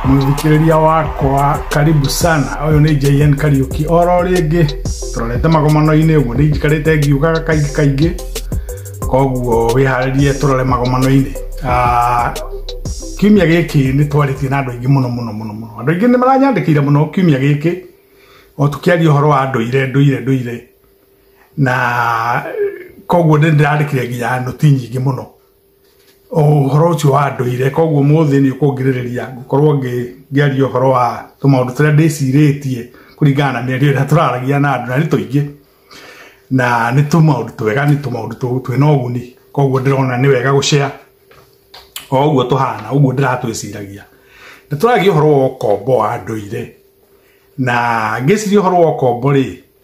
mũthikĩrĩria wakwa karibu sana ũyũ nĩ jn kariuki oro rĩngĩ tũrorete magomano-inĩ ũguo nĩ njikarĩte ngiugaga kaingĩ kaingĩ koguo wĩharĩrie tũrore magomano-inĩ Ah, kiumia gĩkĩ nĩ twarĩtie na andũ aingĩ mũno mũno mũno mũno andũ aingĩ nĩ maranyandĩkĩire mũno kiumia gĩkĩ o tũkĩaria ũhoro wa ndũire ndũire ndũire na koguo nĩ ndĩrandĩkire nginya nũti nyingĩ mũno ũhoro ũcio wa ndũire koguo mũthĩ nĩ ũkũngirĩrĩria ngũkorwo ngĩaria ũhoro wa tũmaũndũ tũrĩa ndĩcirĩtie kũringana na mĩario ĩrĩa tũraragia na andũ na nĩ tũingĩ na nĩ tũmaũndũ twega nĩ tũmaũndũ twĩna ũguni koguo ndĩrona nĩ wega gũcea o ũguo tũhana ũguo ndĩratwĩciragia nĩ tũragia ũhoro wa ũkombo wa ndũire na ngĩciria ũhoro wa ũkombo rĩ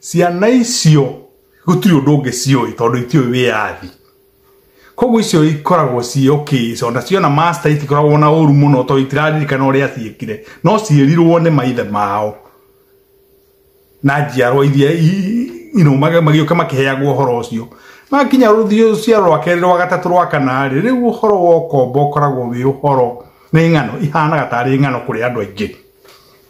ciana icio gũtirĩ ũndũ ũngĩ ciũĩ tondũ itiũĩ wĩyathi koguo icio ikoragwo ciĩ okay so na ciona master itikoragwo na ũru mũno tondũ itiraririkana ũrĩa ciĩkire no ciĩrirwo nĩ maithe mao na njiarwa iria i- you know, mag- magĩũka makĩheagwo ũhoro ũcio makinya rũciaro rwa kerĩ rwa gatatũ rwa kana rĩ rĩu ũhoro wa ũkombo ũkoragwo wĩ ũhoro nĩ ng'ano ihanaga tarĩ ng'ano kũrĩ andũ aingĩ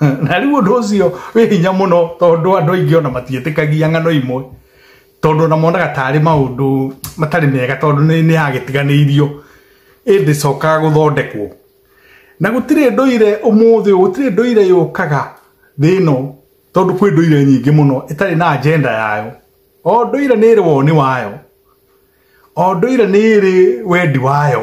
na rĩu ũndũ ũcio wĩ hinya mũno tondũ andũ aingĩ ona matiĩtĩkagia ng'ano imwe tondũ ona monaga tarĩ maũndũ matarĩ mega tondũ nĩ nĩ yagĩtiganĩirio ĩndĩ cokaga gũthondekwo na gũtirĩ ndũire ũmũthĩ ũyũ, gũtirĩ ndũire yũkaga thĩ ĩno tondũ kwĩ ndũire nyingĩ mũno ĩtarĩ na agenda yayo o ndũire nĩ ĩrĩ woni wayo o ndũire nĩ ĩrĩ wendi wayo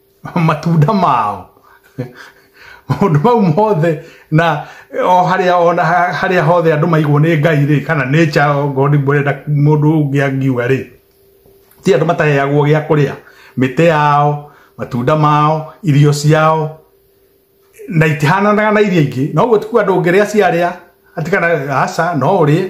matunda mao maundu mau mothe na o haria ona haria hothe andu maigwo ni ngai ri kana nature o god burenda mundu ungi angiuga ri ti andu mataheagwo gia kuria mite yao matunda mao irio ciao na itihananaga na iria ingĩ no guo tikuga ndũngĩrĩa ciarĩa ati kana aca no ũrĩe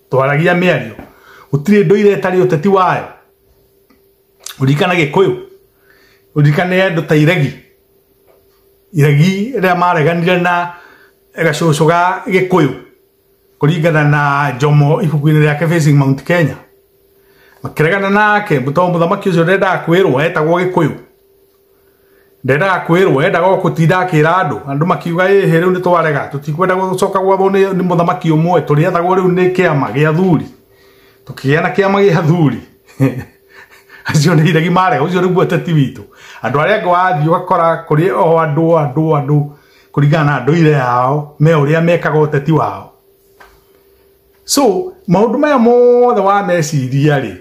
twaragia mĩario gũtirĩ ndũire ĩtarĩ ũteti wayo ũririkana gĩkũyũ ũririkane andũ ta iregi iregi rĩrĩa mareganire na gacũcũ ga gĩkũyũ kũringana na njomo ibuku-inĩ rĩake facing mount kenya makĩregana nake tondũ mũthamaki ũcio ndendaga kwĩrwo etagwo gĩkũyũ ndendaga kwirwo endaga o kutinda akira andu andu makiuga ĩhĩ rĩu nĩ twarega tũtikwenda gũcoka gwathwo nĩ nĩ mũthamaki ũmwe tũrĩathagwo rĩu nĩ kĩama gĩa athuri tũkĩgĩa na kĩama gĩa athuri acio nĩ iregi marega ũcio nĩguo ũteti witũ andũ arĩa angĩ wathiĩ ũgakora kũrĩ o andũ andũ andũ kũringana na ndũire yao me ũrĩa mekaga ũteti wao so maũndũ maya mothe wameciria rĩ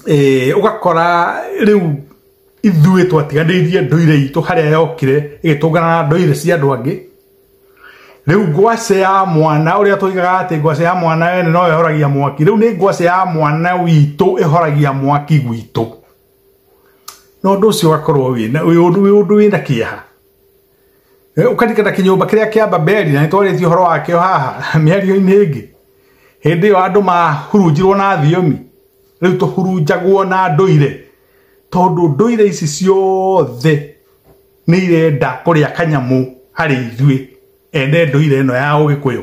eh, ũgakora rĩu ithuĩ twatiganĩirie ndũire itũ harĩa yokire ĩgĩtũngana na ndũire cia andũ angĩ rĩu ngwacĩ ya mwana ũrĩa tũigaga atĩ ngwacĩ ya mwana ene no ĩhoragia mwaki rĩu nĩ ngwacĩ ya mwana witũ ĩhoragia mwaki gwitũ na ũndũ ũcio ũgakorwo wĩ na- wĩ ũndũ wĩ ũndũ wĩna kĩeha Eh, ũkarikana kĩnyũmba kĩrĩa kĩa babeli na nĩtwarĩtie ũhoro wakĩo haha mĩario-inĩ ĩngĩ hĩndĩ ĩyo andũ mahurunjirwo na thiomi rĩu tũhurunjagwo na ndũire tondũ ndũire ici ciothe nĩ irenda kũrĩa kanyamũ harĩ ithuĩ ene ndũire ĩno ya ũgĩkũyũ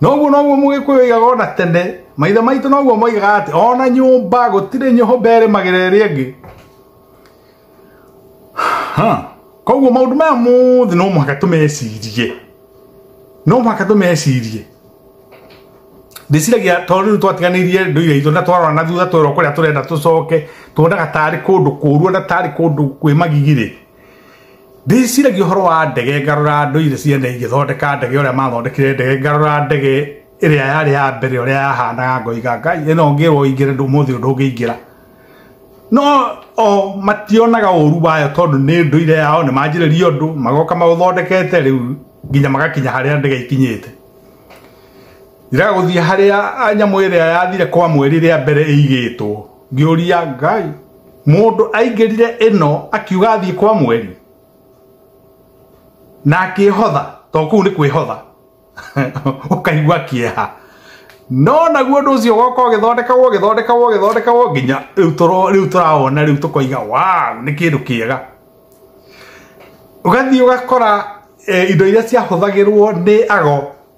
noguo noguo mũgĩkũyũ aigaga ona tene maithe maitũ noguo moigaga atĩ ona nyũmba gũtirĩ nyũmba ĩrĩmagĩra ĩrĩa ĩngĩ Ha, koguo maũndũ maya mothe no mũhaka tũmecirie no mũhaka tũmecirie ndĩciragia tondũ rĩu twatiganĩirie ndũire itũ na twarora na thutha twerwo kũrĩa tũrenda tũcoke tuonaga tarĩ kũndũ kũũru na tarĩ kũndũ kwĩ magigirĩ ndĩciragia ũhoro wa ndege ngarora ndũire cia na igĩthondeka ndege ũrĩa mathondekire ndege ngarora ndege ĩrĩa yarĩ ya mbere ũrĩa yahanaga ngoiga ngai ĩno ngĩrwo ingĩre ndũ mũthĩ ũndũ ũngĩingĩra no o mationaga ũru wayo tondũ nĩ ndũire yao nĩ manjĩrĩria ũndũ magoka maũthondekete rĩu nginya magakinya harĩa ndege ikinyĩte iraga gũthiĩ harĩa nyamũ ĩrĩa yathire kwa mweri rĩa mbere ĩigĩtwo ngĩũria ngai mũndũ aingĩrire ĩno akiuga athiĩ kwa mweri na akĩhotha to kũu nĩ kwĩhotha ũkaigua kĩeha no naguo ũndũ ũcio goka ũgĩthondekagwo ũgĩthondekagwo ũgĩthondekagwo nginya rĩu tũro- rĩu tũrawona rĩu tũkoiga wow nĩ kĩndũ kĩega ũgathiĩ ũgakora eh, indo iria ciahũthagĩrwo nĩ ago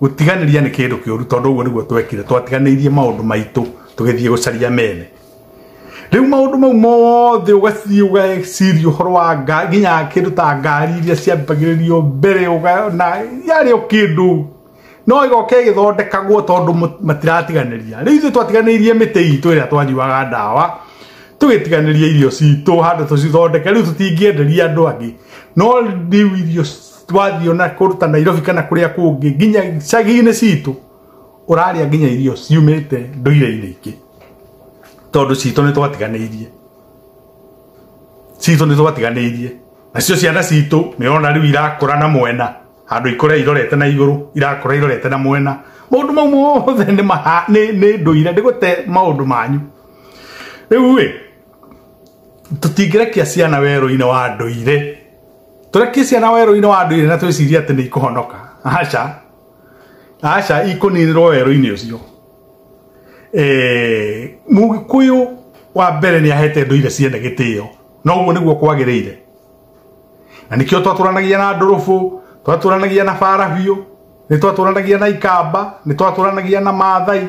gũtiganĩria nĩ kĩndũ kĩũru tondũ ũguo nĩguo twekire twatiganĩirie maũndũ maitũ tũgĩthiĩ gũcaria mene rĩu maũndũ mau mothe ũgathiĩ ũgeciria ũhoro wa nga- nginya kĩndũ ta ngari iria ciambagĩrĩrio mbere ũgana yarĩ o kĩndũ no igoke igĩthondekagwo tondũ mũ- matiratiganĩria rĩu ithuĩ twatiganĩirie mĩtĩ itũ ĩrĩa twanyuaga ndawa tũgĩtiganĩria irio citũ handũ tũcithondeke rĩu tũtingĩenderia andũ angĩ no rĩu irio twathiĩ ona kũndũ ta nairobi kana kũrĩa kũngĩ nginya cagi-inĩ citũ ũrarĩa nginya irio ciumĩte ndũire-inĩ ingĩ tondũ citũ nĩ twatiganĩirie citũ nĩ twatiganĩirie nacio ciana citũ nĩ ũrona rĩu irakũra na mwena handũ ikũre irorete na igũrũ irakũra irorete na mwena maũndũ mau mothe nĩ maha- nĩ- nĩ ndũire ndĩgũte maũndũ manyu rĩu ĩ tũtingĩrekia ciana werũ-inĩ wa ndũire tũrekie ciana werũ-inĩ wa ndũire na twĩcirie atĩ nĩ ikũhonoka aca aca ikũninĩrwo werũ-inĩ ũcio Eh, mũgĩkũyũ wa mbere nĩ ahete ndũire ciene gĩtĩo na ũguo nĩguo kwagĩrĩire na nĩkĩo twatũranagia na ndũrũbũ twatũranagia na bara biũ nĩ twatũranagia na ikamba nĩ twatũranagia na maathai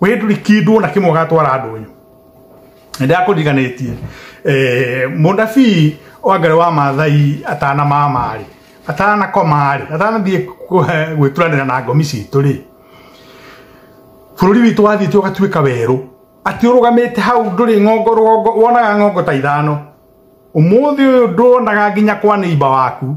we nduri kindu ona kimwe gatwara andu uyu ndakuriganitie eh munabii wa ngai wa mathai atana mamari atana komari atana thie gwituranira na ngomi citu ri bururi witu wathiite ugatuika weru ati urugamite hau nduri ng'ongo rũgongo wonaga ng'ongo ta ithano umuthi uyu nduonaga nginya kwa neiba waku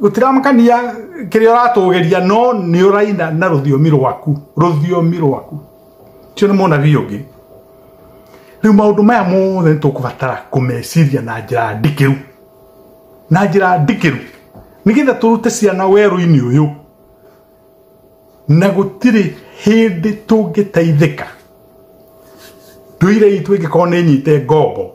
gutiramakania kiria uratugeria no ni uraina na ruthiomi rwaku ruthiomi rwaku cio ni munabii ungi riu maundu maya mothe ni tukubatara kumeciria na njira ndikiru na njira ndikiru nigetha turute ciana weru-ini uyu na gutiri hindi tungiteithika nduire itũ ĩngĩkorwo nĩ nyite ngombo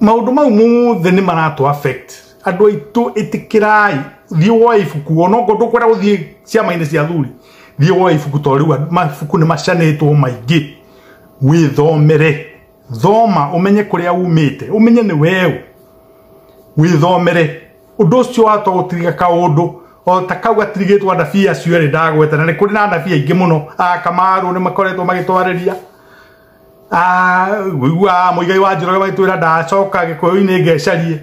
maundu mau mothe ni maratu affect andu aitu itikirai thie woe ibuku ona ngo ndukwenda guthie ciama-ini cia thuri thie woe ibuku to riu mabuku ni macanitwo maingi withomere thoma umenye kuria umite umenye ni weũ withomere undu ucio wata gutiriga kaundu o ta kau gatirigitwo anabii acio rĩ ndagweta na nĩ kũrĩ na anabii aingĩ mũno a kamaru nĩ makoretwo magĩtwarĩria Ah, wĩiguaga mũigai wa njoroge magĩtwĩra ndacoka gĩkũyũ-inĩ ngecarie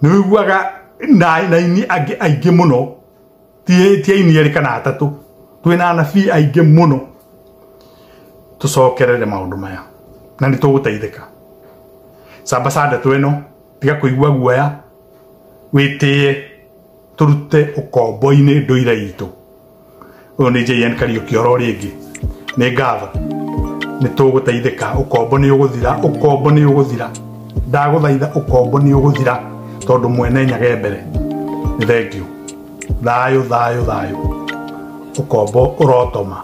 nĩ wĩiguaga na na aini angĩ aingĩ mũno ti ti aini erĩ kana atatũ twĩ na anabii aingĩ mũno tũcokerere maũndũ maya na nĩ tũgũteithĩka sambasande tweno tiga kũigua guoya wĩtĩye turute ukombo-ini nduire itu uyu ni JN Kariuki oro ringi ni ngatho ni tuguteithika ukombo ni uguthira ukombo ni uguthira ndaguthaitha ukombo ni uguthira tondu mwene nyage mbere ni thengiu thayo thayo thayo ukombo urotoma